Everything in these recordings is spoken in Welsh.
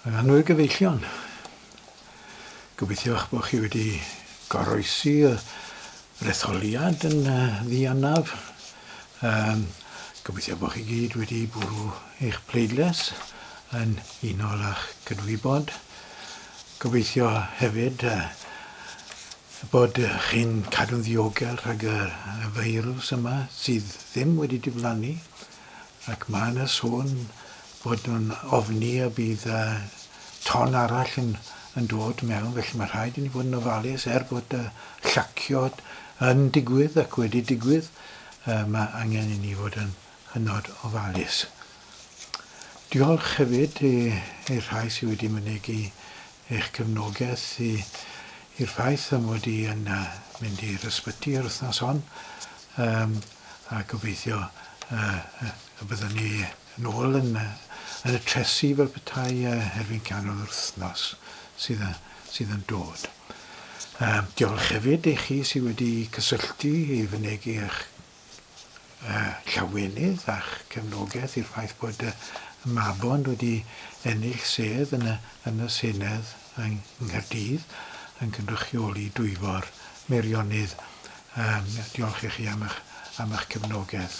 Yn annwyl gyfeillion. Gobeithio eich bod chi wedi goroesi y retholiad yn ddianaf. Um, gobeithio bod chi gyd wedi bwrw eich pleidles yn unol â'ch cydwybod. Gobeithio hefyd uh, bod chi'n cadw'n ddiogel rhag y feirws yma sydd ddim wedi diflannu ac mae yna sôn bod nhw'n ofni y bydd ton arall yn dod mewn, felly mae rhaid i ni fod yn ofalus, er bod y llacio yn digwydd ac wedi digwydd, mae angen i ni fod yn hynod ofalus. Diolch hefyd i'r rhai sydd wedi mynegi eich cefnogaeth i'r ffaith am fod i yn mynd i'r ysbyty yr wythnos hon, a gobeithio y byddwn ni Yn ôl yn y trethi fel petai erbyn canol yr wythnos sydd yn dod. Diolch hefyd i chi sydd wedi cysylltu i fynegi eich llawenydd a'ch cefnogaeth i'r ffaith bod Mabon wedi ennill sedd yn y Senedd yng Nghaerdydd yn cynrychioli Dwyfor Meirionnydd. Diolch i chi am eich cefnogaeth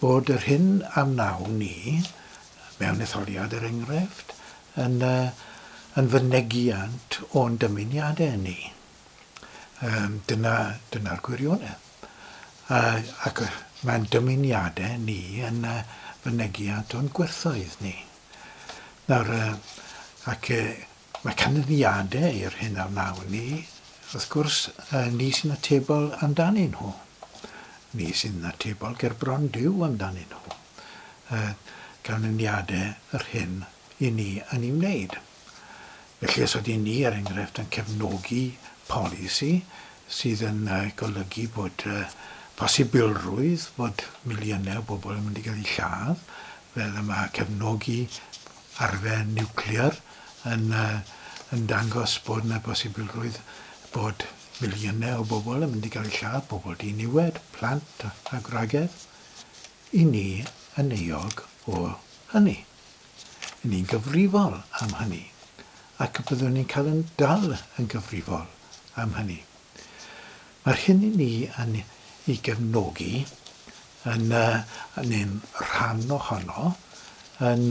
Bod yr hyn a wnawn ni mewn etholiad, er enghraifft, yn yn fynegiant o'n dymuniadau ni. Yym dyna dyna'r gwirionedd. A ac mae'n dymuniadau ni yn fynegiant o'n gwerthoedd ni. Nawr yy ac yy Mae canlyniadau i'r hyn a wnawn ni, wrth gwrs, ni sy'n atebol amdanyn nhw. Ni sy'n atebol gerbron Duw amdanyn nhw. Canlyniadau yr hyn i ni yn ei wneud. Felly os ydyn ni, er enghraifft, yn cefnogi polisi sydd yn golygu bod posibilrwydd bod miliynau o bobl yn mynd i gael eu lladd, fel y mae cefnogi arfer niwclear yn yn dangos bod 'na bosibilrwydd bod miliynau o bobl yn mynd i gael eu lladd, pobl diniwed, plant a gwragedd, i ni yn euog o hynny. I ni'n gyfrifol am hynny ac byddwn ni'n cael yn dal yn gyfrifol am hynny. Mae'r hyn i ni yn ei gefnogi yn, neu'n rhan ohono, yn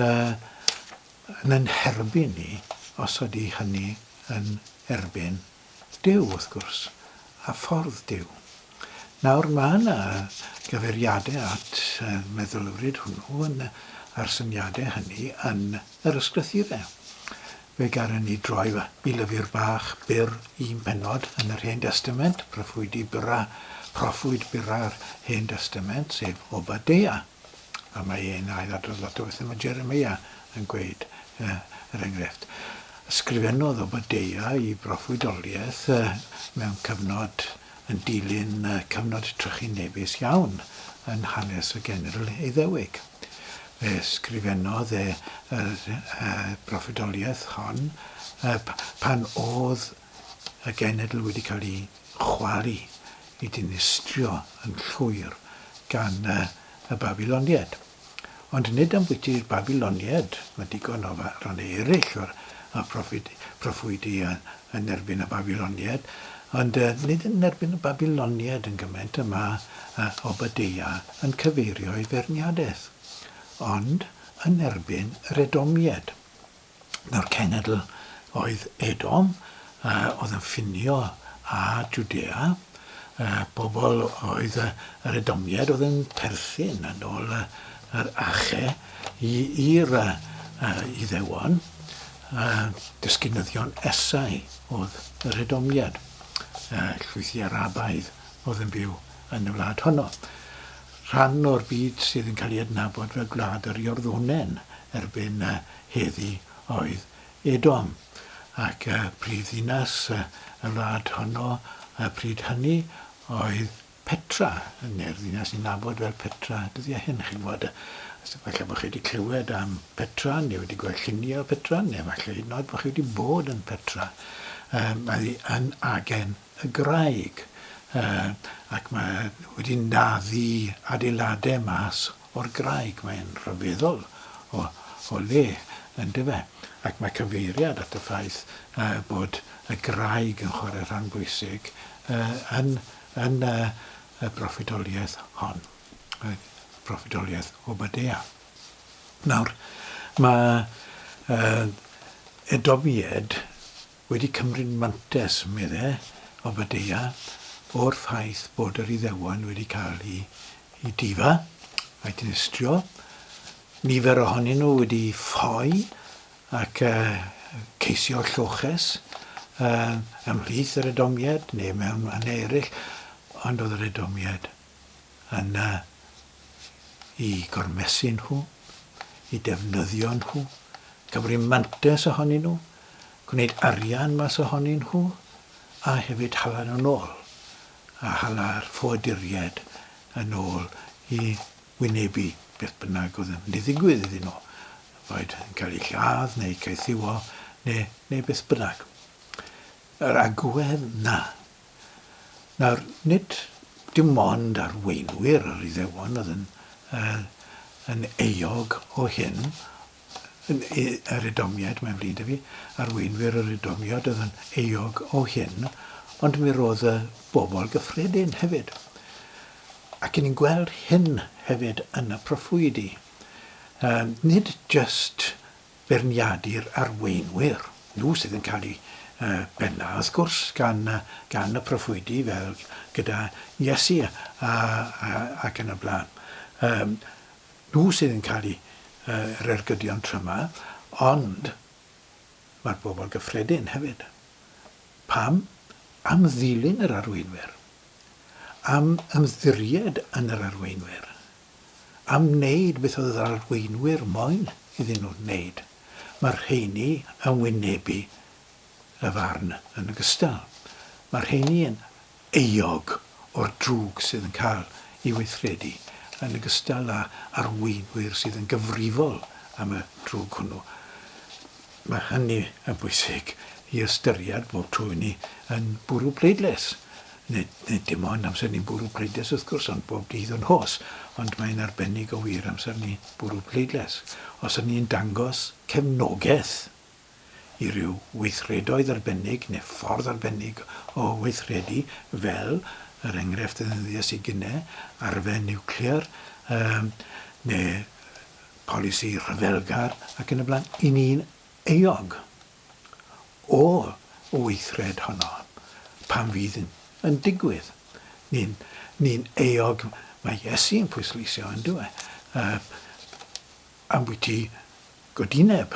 yn nherbyn ni, os ydy hynny yn erbyn Duw, wrth gwrs, a ffordd Duw. Nawr, mae yna gyfeiriadau at y meddylfryd hwnnw yn, a'r syniadau hynny yn Yr ysgrythir e. Fe gâren ni droi i lyfr bach byr un pennod yn yr Hen Destament, proffwydi byrra, proffwyd byrra'r Hen Destament, sef Obadeia. A mae e'n ail-adrodd lot o bethau mae Jeremia yn gweud, er enghraifft. Ysgrifennodd Obadeia i broffwydoliaeth mewn cyfnod yn dilyn cyfnod trychinebus iawn yn hanes y Genedl Iddewig. Fe ysgrifennodd e yr proffwydoliaeth hon pan oedd y genedl wedi cael ei chwalu, ei dinistrio yn llwyr gan y Babiloniaid. Ond nid ambwyti'r Babyloniaid, mae digon o rannau eraill o'r proffwydi yn erbyn y Babyloniaid, ond nid yn erbyn y Babyloniaid yn gymaint y mae Obadeia yn cyfeirio ei feirniadaeth, ond yn erbyn yr Edomiaid. nawr cenedl oedd Edom, oedd yn ffinio â Jwdea, pobl oedd yr Edomiaid oedd yn perthyn yn ôl yr Ache i i'r Iddewon, dysgynyddion Esau oedd yr Edomiaid, llwyth i Arabaidd oedd yn byw yn y wlad honno. Rhan o'r byd sydd yn cael ei adnabod fel Gwlad yr Iorddonen erbyn Heddi oedd Edom, ac y brifddinas y wlad honno y pryd hynny oedd Petra, neu'r ddinas ni'n nabod fel Petra dyddiau hyn, chi'n gwybod. Falle bod chi wedi clywed am Petra, neu wedi gweld lluniau o Petra, neu falle hyd yn oed bod chi wedi bod yn Petra. Mae hi yn agen y graig ac mae wedi naddu adeiladau mas o'r graig. Mae'n rhyfeddol o le, yn dyw e? Ac mae cyfeiriad at y ffaith bod y graig yn chwarae rhan bwysig yn y proffwydoliaeth hon, y proffwydoliaeth Obadea. Nawr, mae Edomied wedi cymryd mantais, medde Obadiah, o'r ffaith bod yr Iddewon wedi cael eu difa a'u dinistrio, nifer ohonyn nhw wedi ffoi ac ceisio lloches ymhlith yr Edomiaid neu mewn mannau eraill, ond oedd yr Edomiaid yna i gormesu nhw, i defnyddio nhw, cymru mantes ohonyn nhw, gwneud arian mas ohonyn nhw, a hefyd hala nhw nôl, a hala'r ffoaduriaid yn ôl i wynebu beth bynnag oedd yn mynd i ddigwydd iddyn nhw, boed yn cael eu lladd neu caethiwo neu, neu beth bynnag. Yr agwedd 'na Nawr, nid dim ond arweinwyr yr Iddewon oedd yn, uh, yn eog o hyn, yn, yr Edomiaid, mae'n flin fi, arweinwyr yr Edomiaid oedd yn eog o hyn, ond mi roedd y bobl gyffredin hefyd. Ac yn ni'n gweld hyn hefyd yn y proffwydi. Uh, nid just beirniadu'r arweinwyr. Nhw sydd yn cael eu bennu, wrth gwrs, gan gan y proffwydi, fel gyda Iesu ac yn y blaen. Yym, nhw sydd yn cael eu yr ergydion tryma, ond mae'r bobl gyffredin hefyd. Pam? Am ddilyn yr arweinwyr. Am ymddiried yn yr arweinwyr. am wneud beth oedd yr arweinwyr moyn iddyn nhw wneud, mae'r rheiny yn wynebu y farn yn ogystal. Mae'r rheiny yn euog o'r drwg sydd yn cael ei weithredu, yn ogystal â arweinwyr sydd yn gyfrifol am y drwg hwnnw. Mae hynny yn bwysig i ystyried bob tro i ni yn bwrw pleidlais, nid nid dim ond amser ni'n bwrw pleidlais wrth gwrs ond bob dydd o'n hos, ond mae'n arbennig o wir amser ni bwrw pleidlais. Os o'n ni'n dangos cefnogaeth i ryw weithredoedd arbennig neu ffordd arbennig o weithredu fel, yr enghraifft ddeddylies i gine, arfe niwclear, yy neu polisi rhyfelgar ac yn y blaen, i ni'n euog o'r weithred honno pan fydd yn digwydd. Ni'n ni euog, mae Iesu'n pwysleisio yn dyw e, uh, ambwyty godineb,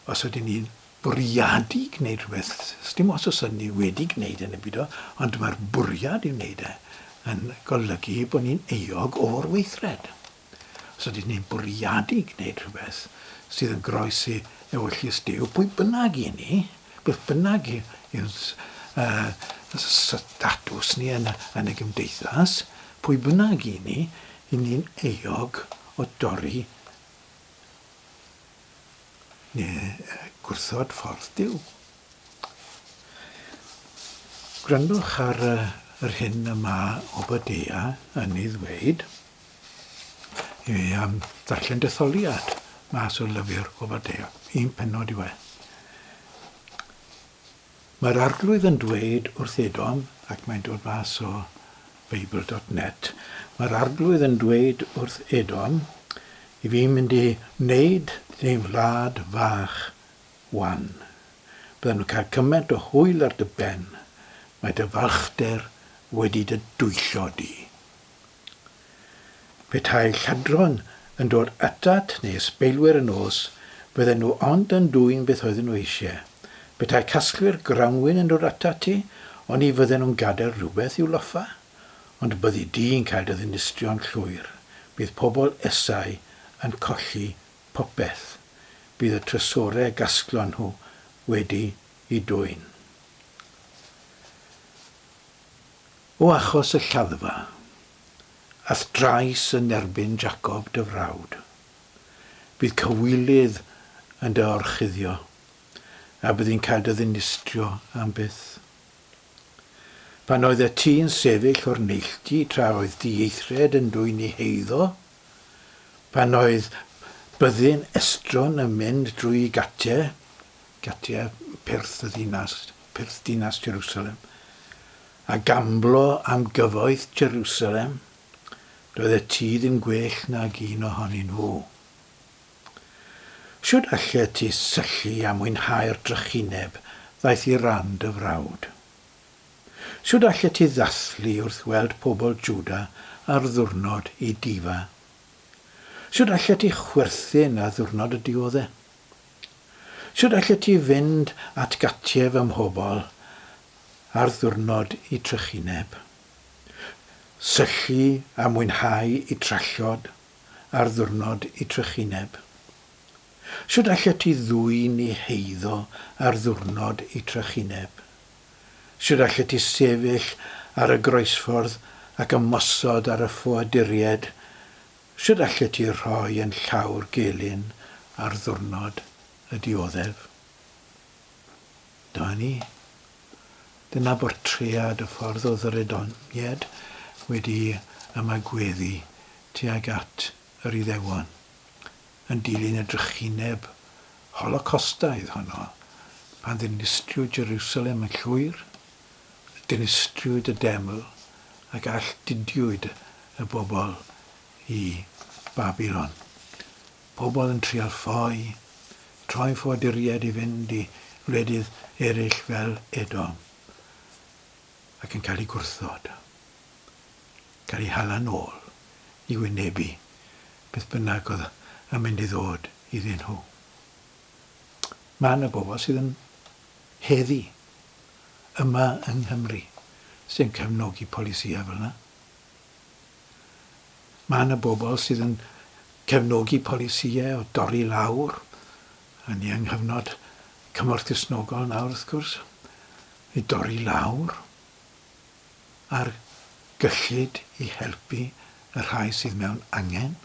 os ydyn ni'n bwriadu gwneud rhywbeth, dim os os ydyn ni wedi gwneud yn y byd o, ond mae'r bwriad i wneud e yn golygu bod ni'n euog o'r weithred. Os ydyn ni'n bwriadu gwneud rhywbeth sydd yn groes i ewyllys Duw, pwy bynnag i ni, beth bynnag yw'n uh, statws ni yn, yn y gymdeithas, pwy bynnag i ni, i ni'n eog o dorri neu gwrthod ffordd Duw. Gwrandwch ar yr hyn y mae Obadea yn ei ddweud. i fi am ddarllen detholiad mas o lyfr o Fadeo. Un penod i waith. Mae'r arglwydd yn dweud wrth Edom, ac mae'n dod mas o Bible.net, mae'r arglwydd yn dweud wrth Edom, i fi mynd i wneud dy wlad fach wan. Bydden nhw'n cael cymaint o hwyl ar dy ben, mae dy falchder wedi dy dwyllo di. Petai lladron yn dod atat neu ysbeilwyr yn nos, bydden nhw ond yn dwyn beth oedden nhw eisiau. Petai casglwyr grawnwin yn dod atat ti, oni fydden nhw'n gadael rhywbeth i'w loffa? Ond byddi di'n cael dy ddinistrio'n llwyr. Bydd pobl Esau yn colli popeth. Bydd y trysorau y gasglon nhw wedi'u dwyn. O achos y lladdfa, a'th drais yn erbyn Jacob dy frawd, bydd cywilydd yn dy orchuddio, a bydd yn cael dy ddinistrio am byth. Pan oeddet ti yn sefyll o'r neilltu tra oedd dy ieithred yn dwyn i heiddo, pan oedd byddin estron yn mynd drwy Gatia, Gatia, Perth y ddinas, Perth dinas Jerusalem, A gamblo am gyfoeth Jerusalem, doedd y tŷ ddim gwell nag un ohonyn nhw. Shwd allet ti syllu a mwynhau'r drychineb ddaeth i ran dy frawd? Shwd allet ti ddathlu wrth weld pobl Jwda ar ddiwrnod i difa? Shwd allet ti chwerthin ar ddiwrnod y diodde? Sut allet ti fynd at gattief ym mhobl ar ddiwrnod y trychineb? Syllu a mwynhau y trallod ar ddiwrnod y trychineb? Sut allet ti ddwyn i heiddo ar ddiwrnod y trychineb? Sut allet ti sefyll ar y groesffordd ac ymosod ar y ffoaduriaid Sut allet ti rhoi yn llawr gelyn ar ddiwrnod y dioddef? Dyma ni. Dyna bortread y ffordd o ddrydoneddyd wedi ymagweddu tuag at yr Iddewon, yn dilyn y drychineb Holocostaidd honno, pan ddinistriwyd Jerusalem yn llwyr. dinistriwyd y deml ac alltudiwyd y bobl i Babilon. Pobl yn trial ffoi, troi ffoaduriaid i fynd i wledydd eraill fel Edom ac yn cael eu gwrthod, cael eu hala'n ôl i wynebu beth bynnag oedd yn mynd i ddod iddyn nhw. Mae yna bobl sydd yn heddi yma yng Nghymru sy'n cefnogi polisïau fel yna. Mae yna bobl sydd yn cefnogi polisïau o dorri lawr, a ni yng nghyfnod cymorth Cristnogol nawr wrth gwrs, i dorri lawr ar gyllid i helpu y rhai sydd mewn angen.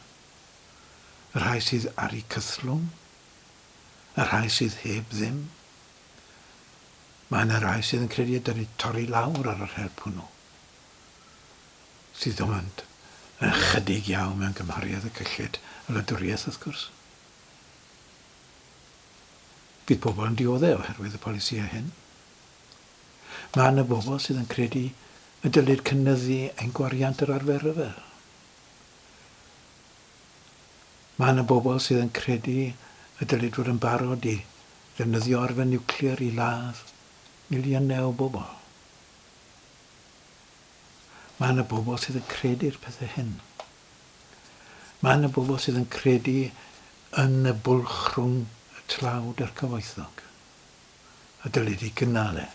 Y rhai sydd ar eu cythlwm? Y rhai sydd heb ddim? Mae yna rai sydd yn credu y dylid torri lawr ar yr help hwnnw, sydd ond yn chydig iawn mewn cymhariaeth y cyllid y wladwriaeth wrth gwrs. Bydd pobl yn dioddef oherwydd y polisïau hyn. Mae yna bobl sydd yn credu y dylid cynnyddu ein gwariant yr arfer rhyfel. Mae yna bobl sydd yn credu y dylid fod yn barod i ddefnyddio arfer niwclear i ladd miliynau o bobl. Mae yna bobl sydd yn credu'r pethau hyn. Mae yna bobl sydd yn credu yn y bwlch rhwng y tlawd a'r cyfoethog. A dylid ei gynnal e.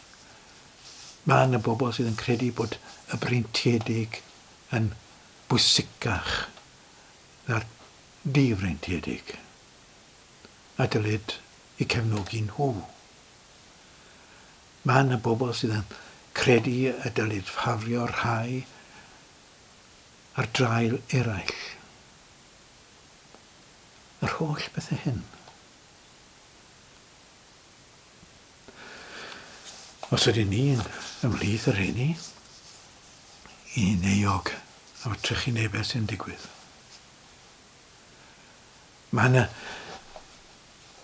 Mae yna bobl sydd yn credu bod y breintiedig yn bwysicach na'r difreintiedig a dylid eu cefnogi nhw. Mae yna bobl sydd yn credu y dylid ffafrio rhai ar draul eraill. Yr holl bethau hyn. Os ydyn ni'n ymhlith y rheini, i'n euog am y trychinebau sy'n digwydd. Mae yna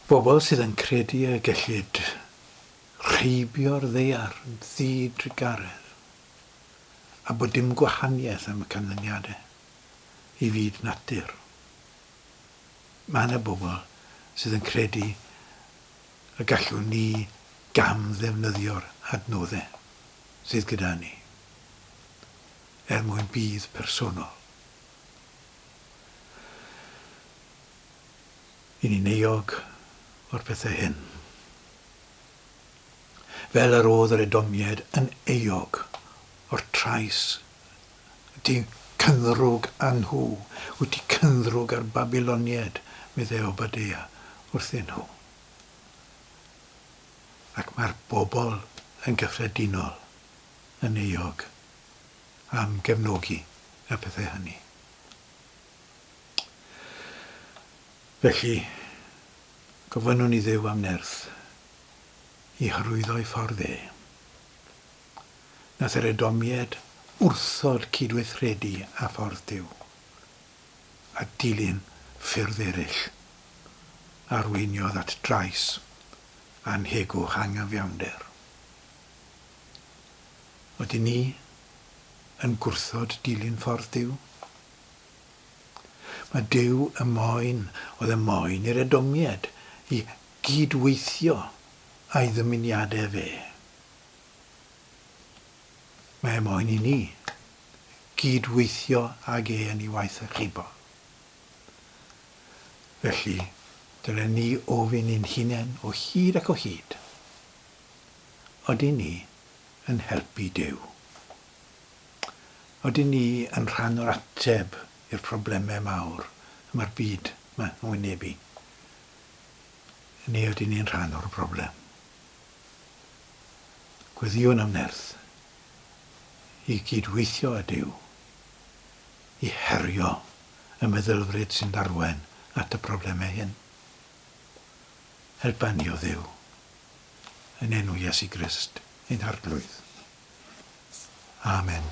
bobl sydd yn credu y gellid rheibio'r ddaear yn ddi-drugaredd a bod dim gwahaniaeth am y canlyniadau i fyd natur. Mae yna bobl sydd yn credu y gallwn ni gam-ddefnyddio'r adnoddau sydd gyda ni er mwyn budd personol i ni'n euog o'r pethau hyn, fel yr oedd yr Edomiaid yn euog o'r trais Ti'n cynddrwg â nhw. Wyt ti cynddrwg â'r Babyloniaid, meddai Obadeia wrthyn nhw. Ac mae'r bobl yn gyffredinol yn euog am gefnogi y pethau hynny. Felly, gofynnwn i Dduw am nerth i hyrwyddo'i ffordd e. na therydomied wrthod cydweithredu â Ffordd Duw, a dilyn ffyrdd eraill, arweiniodd at drais annhegwch anghyfiawnder. Ydyn ni yn gwrthod dilyn Ffordd Duw? Mae Duw y moyn oedd y moyn i'r Edomied i gyd-weithio a'i ddymuniadau fe. Mae moyn i ni gyd-weithio ag e yn ei waith archifo. Felly, dylen ni ofyn i'n hunain o hyd ac o hyd, Ydyn ni yn helpu Duw? Ydyn ni yn rhan o'r ateb i'r problemau mawr y mae'r byd yn wynebu? Neu ydyn ni'n rhan o'r broblem? Gweddïwn am nerth i gyd-weithio â Duw i herio y meddylfryd sy'n arwain at y problemau hyn. Helpa ni, o Dduw, yn enw Iesu Grist, ein Arglwydd. Amen.